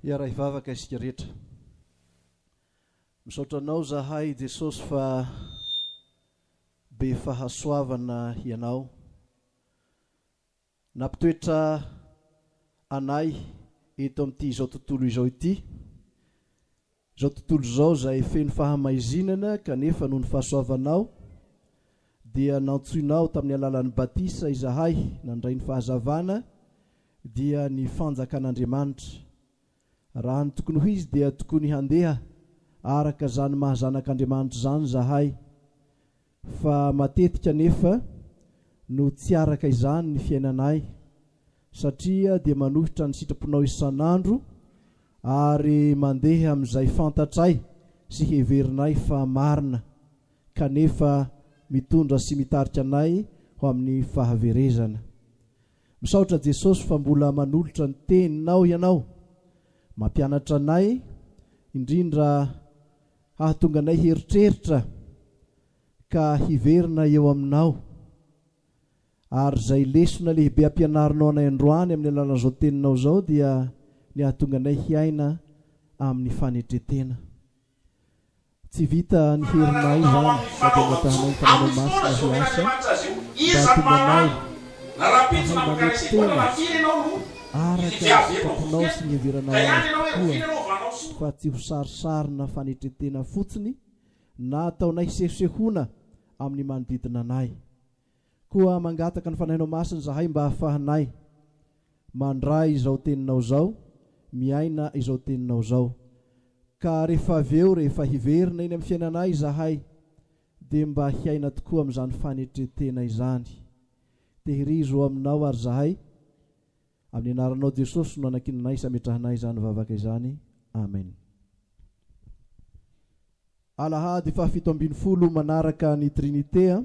Hiara hivavaka isika rehetra. Misaotra anao zahay Jesosy fa be fahasoavana ianao. Nampitoetra anay eto amin'ity izao tontolo izao ity. Izao tontolo izao izay feno fahamaizinana kanefa noho ny fahasoavanao dia nantsoinao tamin'ny alalan'ny batisa izahay nandray ny fahazavana dia ny fanjakan'Andriamanitra. Raha ny tokony ho izy dia tokony handeha araka izany maha zanak'Andriamanitra izany izahay. Fa matetika anefa no tsy araka izany ny fiainanay, satria dia manohitra ny sitraponao isan'andro ary mandeha amin'izay fantatray sy heverinay fa marina, kanefa mitondra sy mitarika anay ho amin'ny fahaverezana. Misaotra Jesosy fa mbola manolotra ny Teninao Ianao, mampianatra anay, indrindra Hahatonga anay hieritreritra ka hiverina eo Aminao. Ary izay lesona lehibe ampianarinao anay androany amin'ny alalan'izao Teninao izao dia ny hahatonga anay hiaina amin'ny fanetren-tena. Tsy vita ny herinay izany fa dia angatahanay ny Fanahinao Masina hiasa mba hahatonga anay hahay manetry tena. araka ny sitraponao sy ny iheveranao azy tokoa fa tsy ho sarisarina fanetretena fotsiny na ataonay sehosehoana amin'ny manodidina anay. Koa mangataka ny Fanahinao Masina izahay mba hahafahanay mandray izao Teninao izao, miaina izao Teninao izao. Ka rehefa avy eo, rehefa hiverina eny amin'ny fiainanay izahay, dia mba hiaina tokoa amin'izany fanetren-tena izany. Tehirizo ho aminao ary zahay, amin'ny anaranao Jesosy no anankinanay sy ametrahanay izany vavaka izany. Amen. Alahady fahafito ambin'ny folo manaraka ny Trinite a.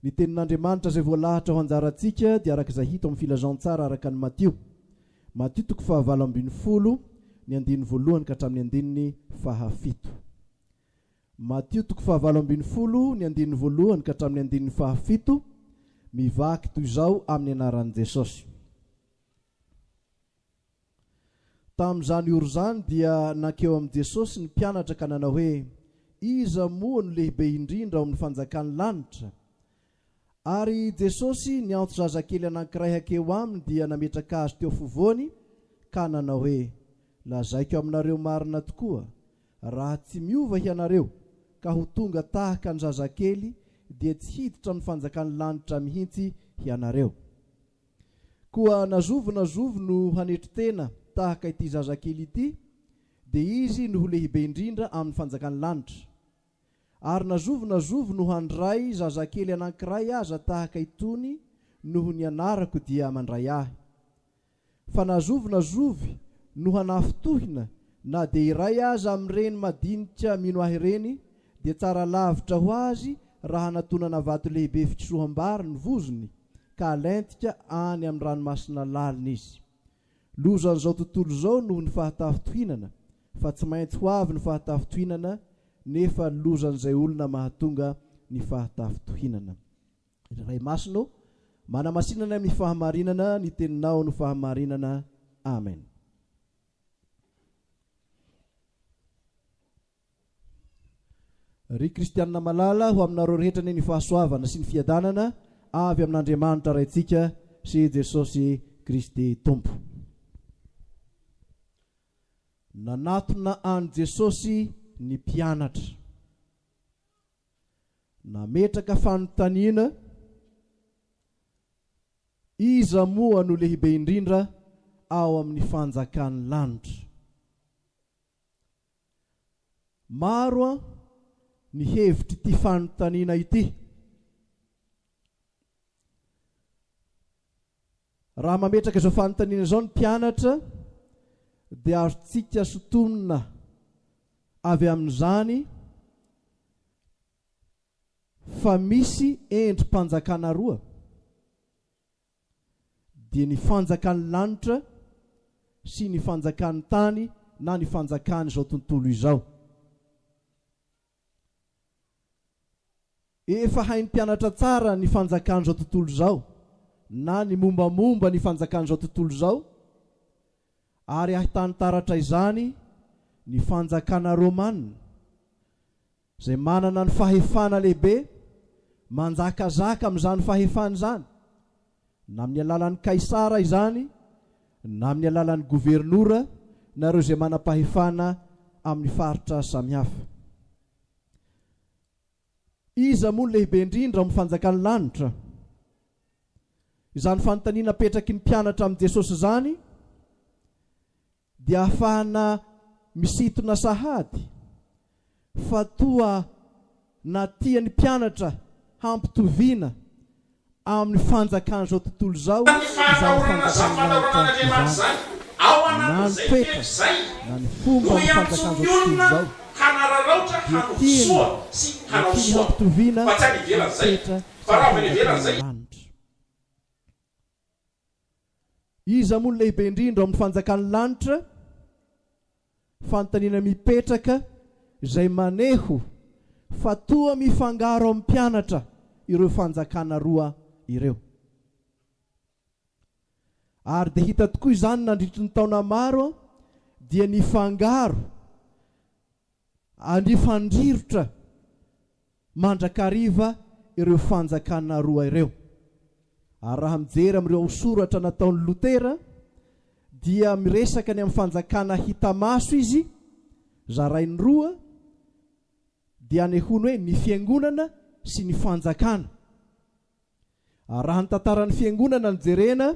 Ny tenin'Andriamanitra izay voalahatra ho anjarantsika dia araka izay hita ao amin'ny Filazantsara araka an'i Matio, Matio toko fahavalo ambin'ny folo, ny andininy voalohany ka hatramin'ny andininy fahafito. Matio toko fahavalo ambin'ny folo ny andininy voalohany ka hatramin'ny andininy fahafito, mivaky toy izao amin'ny anaran'i Jesosy. Tamin'izany ora izany dia nankeo amin'i Jesosy ny mpianatra ka nanao hoe, Iza moa no lehibe indrindra ao amin'ny fanjakan'ny lanitra? Ary Jesosy niantso zazakely anankiray hankeo Aminy dia nametraka azy teo fovoany ka nanao hoe, Lazaiko aminareo marina tokoa, raha tsy miova hianareo ka ho tonga tahaka ny zazakely dia tsy hiditra amin'ny fanjakan'ny lanitra mihitsy hianareo. Koa na zovy na zovy no hanetry tena tahaka ity zazakely ity dia izy no ho lehibe indrindra amin'ny fanjakan'ny lanitra. Ary na zovy na zovy no handray zazakely anankiray aza tahaka itony noho ny anarako dia mandray ahy. Fa na zovy na zovy no hanafintohina na dia iray aza amin'ireny madinika mino ahy ireny dia tsara lavitra ho azy raha hanatonana vato lehibe fitroham-bary ny vozony ka halentika any amin'ny ranomasina lalina izy. Lozan'izao tontolo izao noho ny fahatafintohinana fa tsy maintsy ho avy ny fahatafintohinana nefa lozan'izay olona mahatonga ny fahatafintohinana. Ry Ray Masina ô, manamasinanay amin'ny fahamarinana ny teninao no fahamarinana. Amen. Ry kristianina malala, ho aminareo rehetra anie ny fahasoavana sy ny fiadanana avy amin'Andriamanitra Raintsika sy i Jesosy Kristy Tompo. Nanatona an'i Jesosy ny mpianatra. Nametraka fanontaniana, Iza moa no lehibe indrindra ao amin'ny fanjakan'ny lanitra? Maro ny hevitr'ity fanontaniana ity. Raha mametraka izao fanontaniana izao ny mpianatra dia azontsika sintonina avy amin'izany fa misy endri-panjakana roa. dia ny fanjakan'ny lanitra sy ny fanjakan'ny tany na ny fanjakan'izao tontolo izao. Efa hain'ny mpianatra tsara ny fanjakan'izao tontolo izao na ny mombamomba ny fanjakan'izao tontolo izao, ary ahitany taratra izany ny fanjakana romana Izay manana ny fahefana lehibe manjakazaka amin'izany fahefana izany, na amin'ny alalan'i Kaisara izany na amin'ny alalan'ny governora na ireo izay manam-pahefana amin'ny faritra samihafa. Iza moa no lehibe indrindra ao amin'ny fanjakan'ny lanitra? Izany fanontaniana apetraky ny mpianatra amin'i Jesosy izany dia afahana misintona sahady fa toa na tian'ny mpianatra hampitoviana amin'ny fanjakan'izao tontolo izao izany fanjakan'ny lanitra izany, na ny toetra na ny fomba ny fanjakan'izao tontolo izao, dia tiany na tiany hampitoviana amin'ny toetra sy ny fanjakan'ny lanitra. Iza moa no lehibe indrindra ao amin'ny fanjakan'ny lanitra? Fanontaniana mipetraka izay maneho fa toa mifangaro amin'ny mpianatra ireo fanjakana roa ireo. Ary dia hita tokoa izany nandritry ny taona maro dia nifangaro Handrifandrirotra mandrakariva ireo fanjakana roa ireo. Ary raha mijery amin'ireo hausoratra nataon'i Lotera dia miresaka ny amin'ny fanjakana hita maso izy, zarainy roa, dia anehoany hoe ny fiangonana sy ny fanjakana. Ary raha ny tantaran'ny Fiangonana no jerena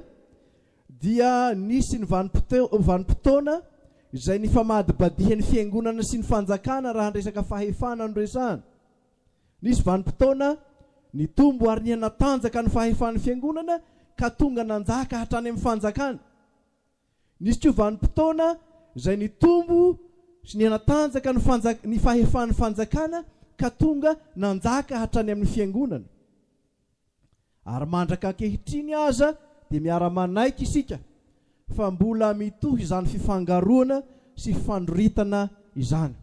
dia nisy ny vanim-potoana izay nifamadibadihan'ny Fiangonana sy ny Fanjakana raha ny resaka fahefana no resahana. Nisy vanim-potoana nitombo ary nihanatanjaka ny fahefan'ny Fiangonana ka tonga nanjaka hatrany amin'ny Fanjakana. Nisy koa vanim-potoana izay nitombo sy nihanatanjaka ny fanjaka ny fahefan'ny fanjakana ka tonga nanjaka hatrany amin'ny fiangonana. Ary mandraka ankehitriny aza dia miara-manaiky isika fa mbola mitohy izany fifangaroana sy fandroritana izany.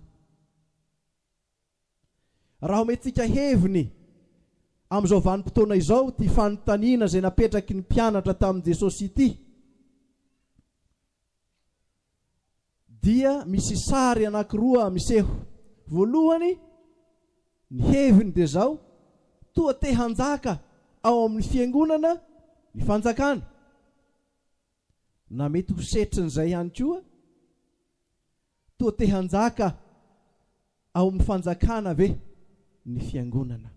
Raha omentsika heviny amin'izao vanim-potoana izao ity fanontaniana izay napetraky ny mpianatra tamin'i Jesosy ity, dia misy sary anankiroa miseho. Voalohany, ny heviny dia izao, toa te hanjaka ao amin'ny fiangonana ny fanjakana. na mety ho setrin'izay ihany koa, toa te hanjaka ao amin'ny fanjakana ve ny fiangonana?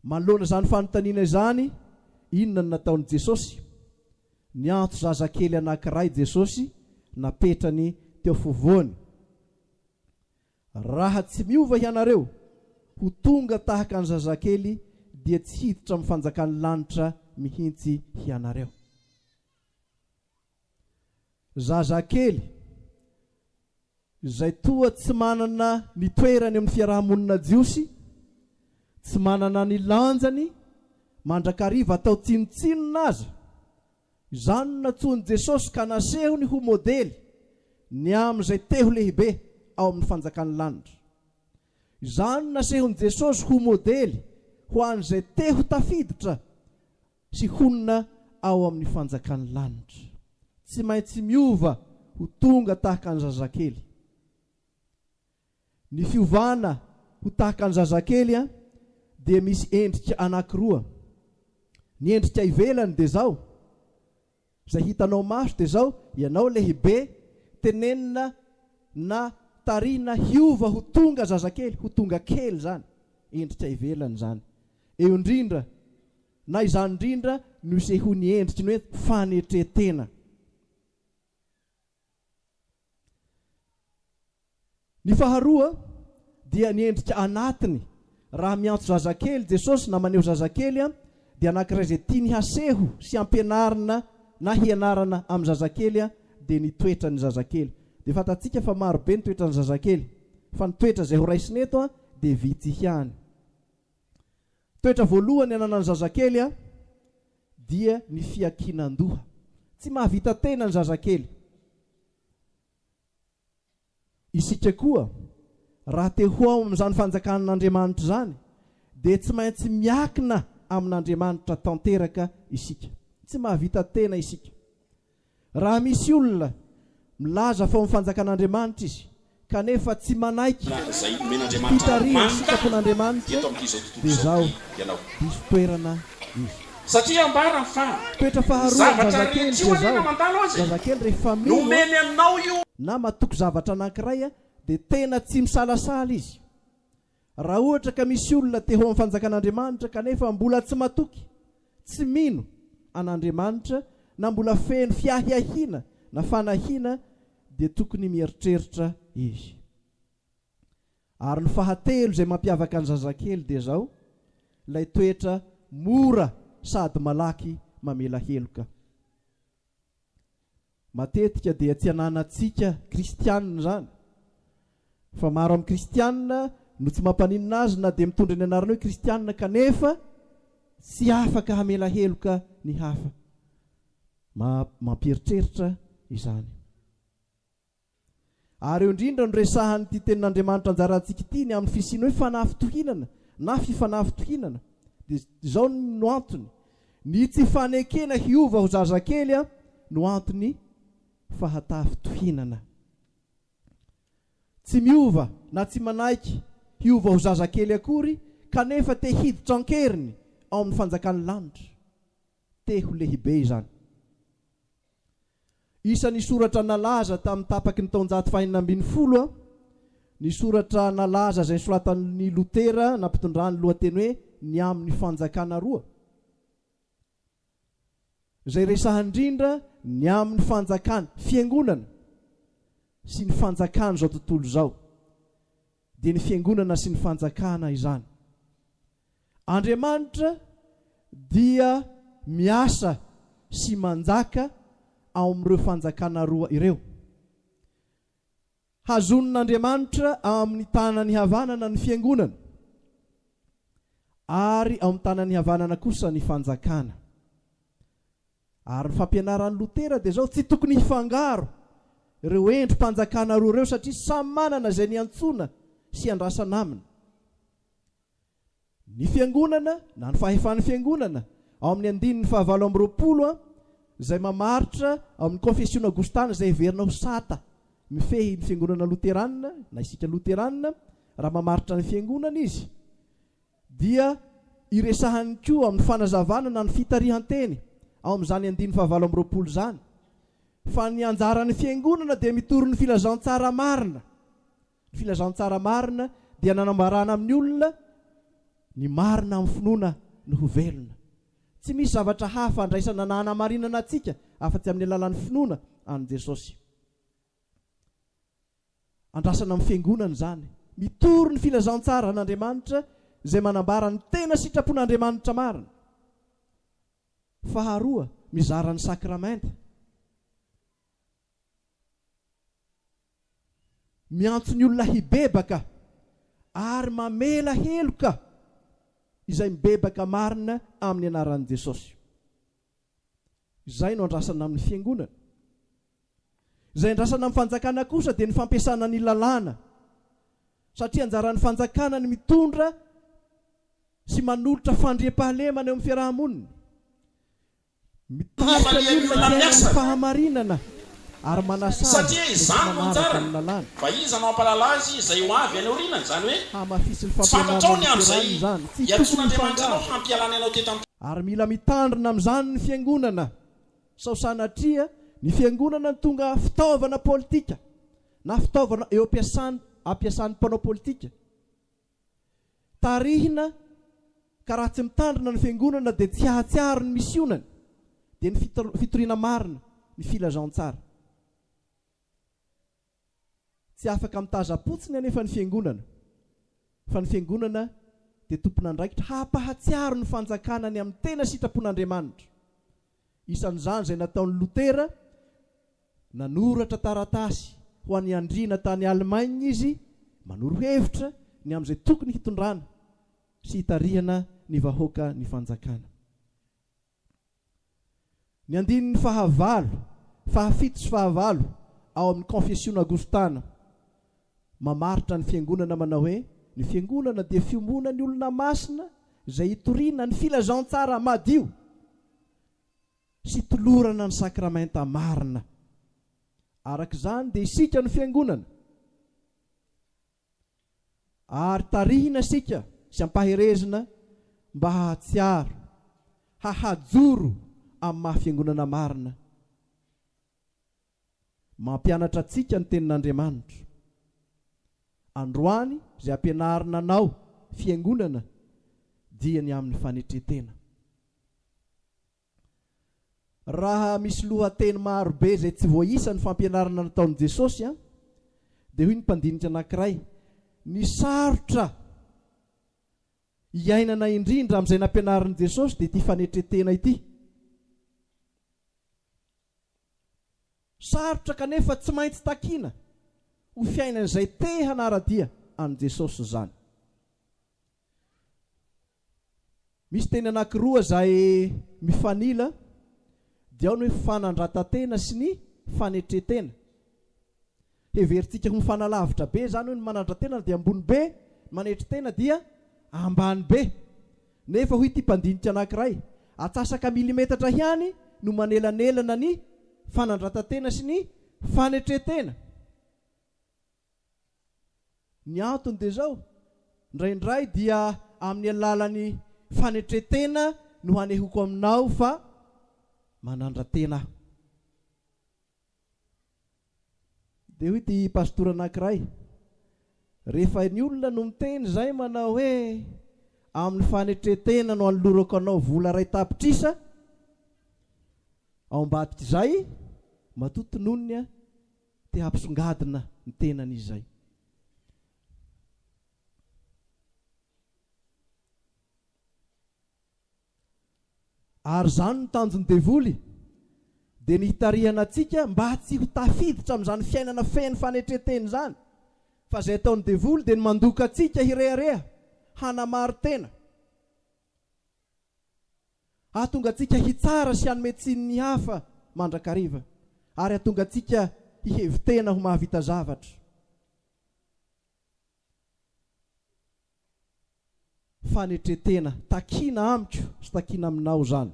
Manoloana izany fanontaniana izany, inona no nataon'i Jesosy? Niantso zazakely anankiray Jesosy, napetrany teo afovoany. Raha tsy miova hianareo ho tonga tahaka ny zazakely dia tsy hiditra amin'ny fanjakan'ny lanitra mihitsy hianareo. Zazakely izay toa tsy manana ny toerany amin'ny fiaraha-monina jiosy, tsy manana ny lanjany mandrakariva atao tsinontsinona aza, Izany no nantsoin'i Jesosy ka nasehony ho modely ny amin'izay te ho lehibe ao amin'ny fanjakan'ny lanitra. Izany no nasehon'i Jesosy ho modely ho an'izay te ho tafiditra sy honina ao amin'ny fanjakan'ny lanitra. Tsy maintsy miova ho tonga tahaka ny zazakely. Ny fiovana ho tahaka ny zazakely dia misy endrika anankiroa, ny endrika ivelany dia izao, izay hitanao maso dia izao, ianao lehibe, tenenina na tarihina hiova ho tonga zazakely, ho tonga kely izany, endrika ivelany izany. Eo indrindra, na izany indrindra no isehoan'ny endriky ny hoe fanetren-tena. Ny faharoa dia ny endrika anatiny, raha miantso zazakely Jesosy na maneho zazakely dia anankiray izay tiany haseho sy hampianarina na hianarana amin'ny zazakely dia ny toetran'ny zazakely. Dia fantatsika fa maro be ny toetran'ny zazakely fa ny toetra izay ho raisina eto dia vitsy ihany. Toetra voalohany ananan'ny zazakely dia ny fiankinan-doha. Tsy mahavita tena ny zazakely. Isika koa, raha te ho ao amin'izany fanjakan'Andriamanitra izany, dia tsy maintsy miakina amin'Andriamanitra tanteraka isika. Tsy mahavita tena isika. Raha misy olona milaza fa ao amin'ny Fanjakan'Andriamanitra izy kanefa tsy manaiky ny fitarihan'ny sitrapon'Andriamanitra dia izao, diso toerana izy. Satria ambarany fa Toetra faharoan'ny zazakely dia izao, zazakely rehefa mino na matoky zavatra anankiray dia tena tsy misalasala izy. Raha ohatra ka misy olona te ho amin'ny fanjakan'Andriamanitra kanefa mbola tsy matoky, tsy mino an'Andriamanitra na mbola feno fiahiahiana na fanahiana dia tokony mieritreritra izy. Ary ny fahatelo izay mampiavaka ny zazakely dia izao, ilay toetra mora sady malaky mamela heloka. Matetika dia tsy ananantsika kristianina izany, fa maro amin'ny kristianina no tsy mampaninona azy na dia mitondra ny anarana hoe kristianina kanefa tsy afaka hamela heloka ny hafa. Mampieritreritra izany. Ary eo indrindra no resahan'ity tenin'Andriamanitra anjarantsika ity ny amin'ny fisian'ny hoe fanafitohinana na fifanafitohinana. Dia izao no antony, Ny tsy fanekena hiova ho zazakely no anton'ny fahatafitohinana. Tsy miova na tsy manaiky hiova ho zazakely akory kanefa te hiditra an-keriny ao amin'ny fanjakan'ny lanitra. te ho lehibe izany. Isan'ny soratra nalaza tamin'ny tapaky ny taonjato fahenina ambin'ny folo ny soratra nalaza izay nosoratan'i Lotera nampitondrany ny lohateny hoe Ny Amin'ny Fanjakana Roa, izay resahany indrindra ny amin'ny fanjakana, fiangonana, sy ny fanjakan'izao tontolo izao. dia ny fiangonana sy ny fanjakana izany. Andriamanitra dia miasa sy manjaka ao amin'ireo fanjakana roa ireo. Hazonin'Andriamanitra amin'ny tanany havanana ny fiangonana, ary ao amin'ny tanany havanana kosa ny fanjakana. Ary ny fampianaran'i Lotera dia izao, tsy tokony hifangaro ireo endri-panjakana roa ireo satria samy manana izay niantsoana sy iandrasana aminy. Ny Fiangonana, na ny fahefan'ny Fiangonana, ao amin'ny andininy fahavalo amby roapolo a, izay mamaritra ao amin'ny Konfesiona Aogostana izay heverina ho sata mifehy ny Fiangonana Loteranina, na isika Loteranina, raha mamaritra ny Fiangonana izy, dia iresahany koa amin'ny fanazavana na ny fitarihan-teny ao amin'izany andininy fahavalo amby roapolo izany fa ny anjaran'ny Fiangonana dia mitory ny filazantsara marina. Ny filazantsara marina dia nanambarana amin'ny olona ny marina amin'ny finoana no ho velona. Tsy misy zavatra hafa andraisana na hanamarinana antsika afa-tsy amin'ny alalan'ny finoana an'i Jesosy. Andrasana amin'ny Fiangonana izany. Mitory ny filazantsaran'Andriamanitra izay manambara ny tena sitrapon'Andriamanitra marina. Faharoa, mizara ny sakramenta. Miantso ny olona hibebaka ary mamela heloka izay mibebaka marina amin'ny anaran'i Jesosy. Izay no andrasana amin'ny Fiangonana. Izay andrasana amin'ny Fanjakana kosa dia ny fampiasana ny lalàna, satria anjaran'ny Fanjakana ny mitondra sy manolotra fandriampahalemana eo amin'ny fiaraha-monina, mitarika ny olona hiaina amin'ny fahamarinana. ary manasà azy Satria izany no manaraka ny anjarany. lalàny. Fa iza no hampahalala azy izay ho avy any aoriana? Izany hoe, Hamafisy ny tsy fantatrao fampianarana ny amin'izay niterahany izany. Tsy tokony hiantson'Andriamanitra anao hifangaro. hampialany anao teto an-tany. Ary mila mitandrina amin'izany ny Fiangonana. Sao sanatria ny Fiangonana no tonga fitaovana politika, na fitaovana eo am-piasan ampiasan'ny mpanao politika. tarihina ka raha tsy mitandrina ny fiangonana dia tsy hahatsiaro ny misionany dia ny fitoriana marina ny filazantsara tsy afaka mitazapotsiny anefa ny fiangonana fa ny fiangonana dia tompon'andraikitra hampahatsiaro ny fanjakana ny amin'ny tena sitrapon'Andriamanitra isan'izany izay nataon'i Lotera, nanoratra taratasy ho an'ny andriana tany Allemagne izy manoro hevitra ny amin'izay tokony hitondrana sy hitarihana ny vahoaka ny fanjakana. Ny andininy fahavalo, fahafito sy fahavalo ao amin'ny Konfesiona Agostana Mamaritra ny Fiangonana manao hoe, Ny Fiangonana dia fiombonan'ny olona masina izay itoriana ny filazantsara madio sy itolorana ny sakramenta marina. Araka izany dia isika no Fiangonana, ary tarihina isika sy ampaherezina mba hahatsiaro, hahajoro amin'ny maha-Fiangonana marina Mampianatra antsika ny Tenin'Andriamanitra. Androany izay ampianarina anao Fiangonana dia ny amin'ny fanetren-tena. Raha misy lohateny maro be izay tsy voaisa ny fampianarana nataon'i Jesosy an, dia hoy ny mpandinika anankiray, ny sarotra iainana indrindra amin'izay nampianarin'i Jesosy dia ity fanetren-tena ity. Sarotra kanefa tsy maintsy takiana ho fiainan'izay te hanara-dia an'i Jesosy izany. Misy teny anankiroa izay mifanila, dia ao ny hoe fanandratan-tena sy ny fanetren-tena. Heverintsika ho fanalavitra be izany hoe ny manandra-tena dia ambony be, ny manetry tena dia ambany be. Nefa hoy ity mpandinika anankiray, atsasaka milimetatra ihany no manelanelana ny fanandrata-tena sy ny fanetren-tena. Ny antony dia izao, indraindray dia amin'ny alalan'ny fanetren-tena no hanehoko aminao fa manandra-tena aho. Dia hoy ity pastora anankiray, Rehefa ny olona no miteny izay manao hoe, Amin'ny fanetren-tena no anolorako anao vola iray tapitrisa ao ambadika izay, matoa tononiny aho, te hampisongadina ny tenany izay. Ary izany no tanjon'ny devoly, dia ny hitarihana antsika mba tsy ho tafiditra amin'izany fiainana feno fanetren-tena izany, fa izay ataon'ny devoly dia ny mandoka antsika hirehareha, hanamari-tena, hahatonga antsika hitsara sy hanome tsiny ny hafa mandrakariva, ary hahatonga antsika hihevi-tena ho mahavita zavatra. fanetretena takina amiko sy takina aminao zany.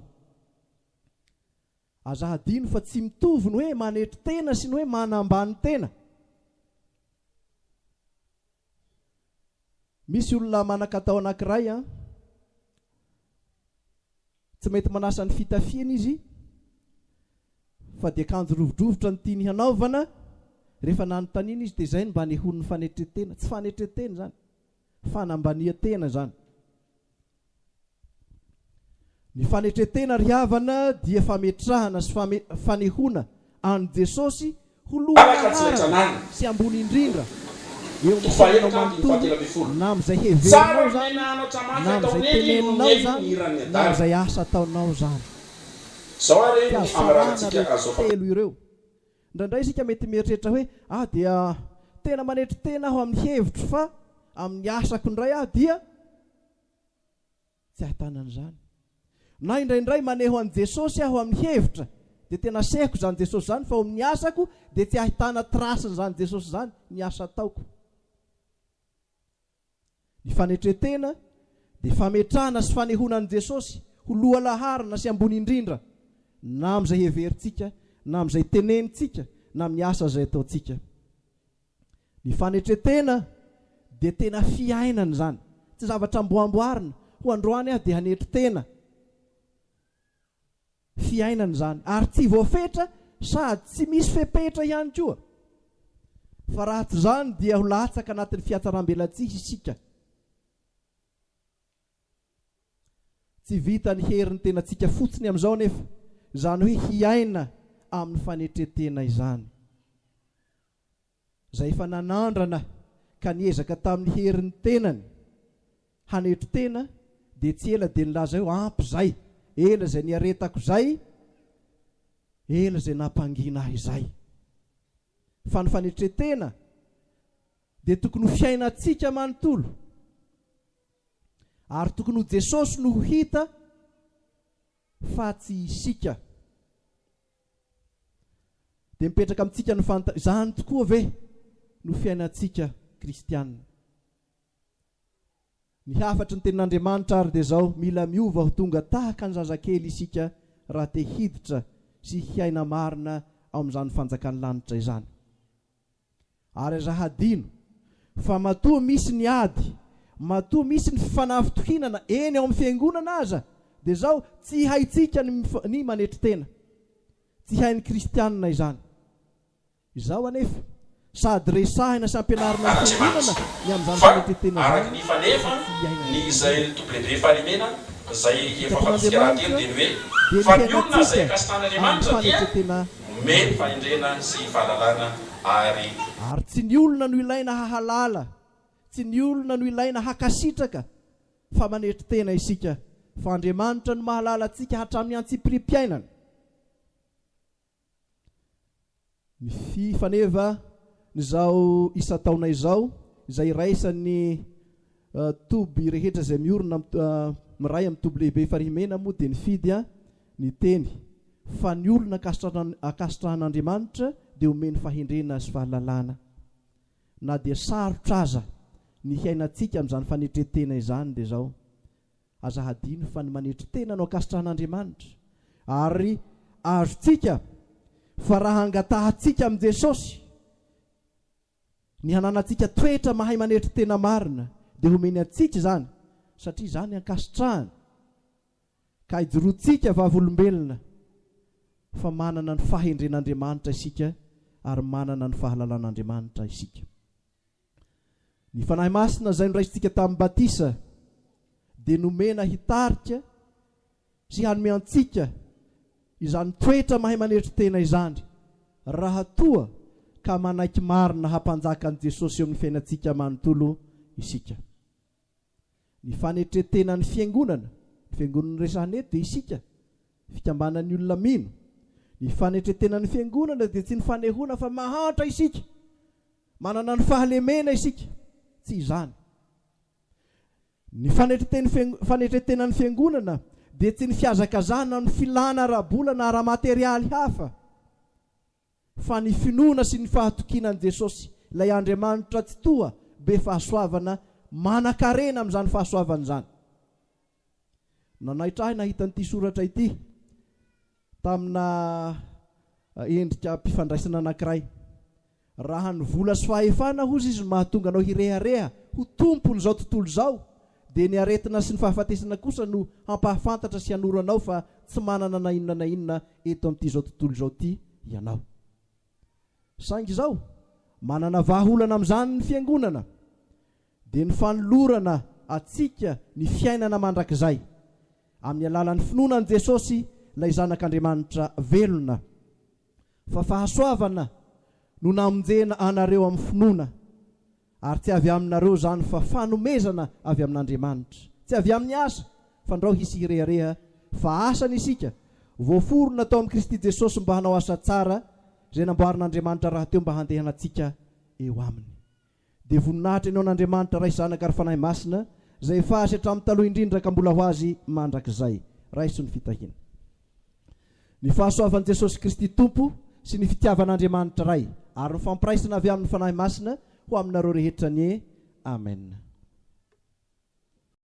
Aza hadino fa tsy mitovy ny hoe manetry tena sy ny hoe manambany tena. Misy olona manakatao anakiray an, Tsy mety manasa ny fitafiany izy fa dia kanjo rovidrovitra no tiany hanaovana, rehefa nanontaniana izy dia izay no mba anehoan'ny fanetren-tena, tsy fanetren-tena izany, fanambanian-tena izany. Ny fanetren-tena ry havana dia fametrahana sy fanehoana an'i Jesosy Ho lohalaharana sy ambony indrindra eo amin'ny fiainanao manontolo na amin'izay heverinao izany na amin'izay teneninao izany na amin'izay asa ataonao izany. Fihazarana ireo telo ireo. Indraindray isika mety mieritreritra hoe, Aho dia tena manetry tena aho amin'ny hevitro fa amin'ny asako indray aho dia. Tsy ahitana an'izany. Na indraindray maneho an'i Jesosy aho amin'ny hevitra, dia tena asehoko izany Jesosy izany fa ao amin'ny asako dia tsy ahitana trace-n'izany Jesosy izany ny asa ataoko. Ny fanetren-tena dia fametrahana sy fanehoana an'i Jesosy ho lohalaharana sy ambony indrindra na amin'izay heverintsika na amin'izay tenenintsika na amin'ny asa izay ataontsika. Ny fanetretena dia tena fiainana izany, tsy zavatra amboamboarina ho androany aho dia hanetry tena, fiainana izany ary tsy voafetra sady tsy misy fepetra ihany koa fa raha tsy izany dia ho latsaka anatin'ny fiatsaram-belatsihy isika, tsy vitan'ny herin'ny tenantsika fotsiny amin'izao anefa izany hoe hiaina amin'ny fanetretena izany. izay efa nanandrana ka niezaka tamin'ny herin'ny tenany hanetry tena dia tsy ela dia nilaza hoe ampy izay, ela izay niaretako izay, ela izay nampangina ahy izay. Fa ny fanetren-tena dia tokony ho fiainantsika manontolo ary tokony ho Jesosy no ho hita fa tsy isika. Dia mipetraka amintsika ny fanontaniana, izany tokoa ve no fiainantsika kristiana? Ny hafatry ny Tenin'Andriamanitra àry dia izao, Mila miova ho tonga tahaka ny zazakely isika raha te hiditra sy hiaina marina ao amin'izany fanjakan'ny lanitra izany. Ary aza hadino fa matoa misy ny ady, matoa misy ny fanafitohinana eny ao amin'ny fiangonana aza dia izao tsy haintsika ny manetry tena. Tsy hain'ny kristianina izany. Izao anefa, sady resahina sy ampianarina ny fiangonana ny amin'izany fanetren-tena izany fa tsy iainana intsony. Ny tokony handeha lavitra dia ny fiainantsika amin'ny fanetren-tena Omey fahendrena sy fahalalana ary. Ary tsy ny olona no ilaina hahalala, tsy ny olona no ilaina hakasitraka fa manetry tena isika fa Andriamanitra no mahalala antsika hatramin'ny antsipiriam-piainana. Ny fi faneva n'izao isan-taona izao izay iraisan'ny. Toby rehetra izay miorina miray amin'ny toby lehibe Farihy Mena moa dia nifidy ny teny fa ny olona ankasitrahan'Andriamanitra dia omeny fahendrena sy fahalalana. Na dia sarotra aza ny hiainantsika amin'izany fanetren-tena izany dia izao, aza hadino fa ny manetry tena no ankasitrahan'Andriamanitra ary azontsika fa raha angatahantsika amin'i Jesosy, Ny hananantsika toetra mahay manetry tena marina dia homeny antsika izany satria izany ankasitrahany ka ijoroantsika vavolombelona fa manana ny fahendren'Andriamanitra isika ary manana ny fahalalan'Andriamanitra isika. Ny Fanahy Masina izay noraisintsika tamin'ny batisa dia nomena hitarika Tsy hanome antsika izany toetra mahay manetry tena izany raha toa ka manaiky marina hampanjaka an'i Jesosy eo amin'ny fiainantsika manontolo isika. Ny fanetren-tenan'ny Fiangonana, ny Fiangonana noresahana eto dia isika, fikambanan'ny olona mino. Ny fanetren-tenan'ny Fiangonana dia tsy ny fanehoana fa mahantra isika, manana ny fahalemena isika, tsy izany. Ny fanetren-tenan'ny Fiangonana dia tsy ny fihazakazahana amin'ny filàna ara-bola na ara-materialy hafa, fa ny finoana sy ny fahatokiana an'i Jesosy, ilay Andriamanitra Tsitoha be fahasoavana manan-karena amin'izany fahasoavana izany. Nanaitra ahy nahita an'ity soratra ity, tamina endrika mpifandraisana anankiray. Raha ny vola sy fahefana, hozy izy, no mahatonga anao hirehareha ho tompon'izao tontolo izao, dia ny aretina sy ny fahafatesana kosa no hampahafantatra sy hanoro anao fa tsy manana na inona na inona eto amin'ity izao tontolo izao ity ianao. Saingy izao, manana vahaolana amin'izany ny Fiangonana. dia ny fanolorana antsika ny fiainana mandrakizay, amin'ny alalan'ny finoana an'i Jesosy, ilay Zanak'Andriamanitra velona. Fa fahasoavana no namonjena anareo amin'ny finoana, ary tsy avy aminareo izany fa fanomezana avy amin'Andriamanitra. Tsy avy amin'ny asa, fandrao hisy hirehareha, fa asa ny isika, voaforona tao amin'i Kristy Jesosy mba hanao asa tsara, izay namboarin'Andriamanitra rahateo mba handehanantsika eo aminy. dia voninahitra ny ho an'Andriamanitra Ray Zanaka ary Fanahy Masina izay efa Azy hatramin'ny taloha indrindra ka mbola ho Azy mandrakizay. Raiso ny fitahiana. Ny fahasoavan'i Jesosy Kristy Tompo sy ny fitiavan'Andriamanitra Ray ary ny fampiraisana avy amin'ny Fanahy Masina ho aminareo rehetra anie. Amena.